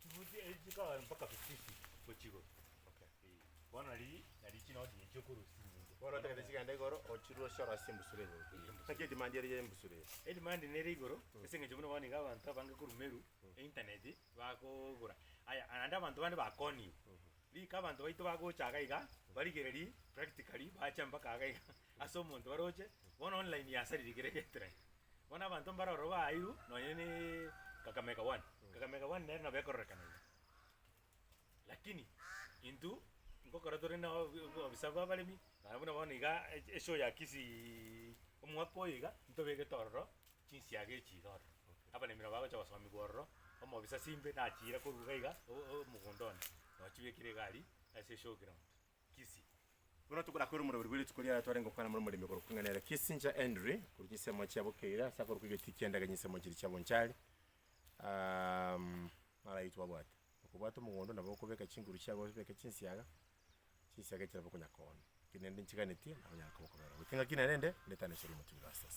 Chifuti echi chikagera mpaka fifiti gochia igoro. Bono riria nario chinoti echi okorosia chinyinge. Bono otagete chigende igoro ochirure ochiorosie embusuro eye goika igoro. Naki edimandi ere y'embusuro eye? Edimandi nere igoro ase eng'encho buna bono iga abanto abange korwa Meru eintaneti bagogora. Aya, naende abanto bande bakoniwa. Rika abanto baito bagocha iga iga barigererie practically bache mpaka iga iga. Ase omonto orooche bono online ya asariri kere getire bono abanto mbare ororo baairu nonye ne Kakamega one Kakamega one nere nabo ekororekana iga lakini intwe ngokora tore na obisa bwa abaremi naye buna bono iga echi eshow ya Kisii omwaka oyo iga ntobegete ororo chinsiaga echi iga ororo abaremi nabo bagocha gosomigwa ororo omobisa simbe nachiire korwa iga iga o- o- omogondo one nochibekire iga aria ase eshow ground. Kisii. Buna tokora kore omoroberi bwe rituko ri'ara twarenge gokwana more omoremi okorokwa ing'ana ere Kisii inche Henry korwa chinsemo chia bokeire ase akorokwa egetiti ki'ende age chinsemo chiria chia bonchari um naro ayio twabwate. Okobwata omogondo nabo okobeka chinguru chiago obeke chinsiaga, chinsiaga echi nabo okonyara koona. Ekero naende nchiganetie nabo onyare koba okobera oboke. Ng'aki naende nde, ndetane chire omotumia o Rastus.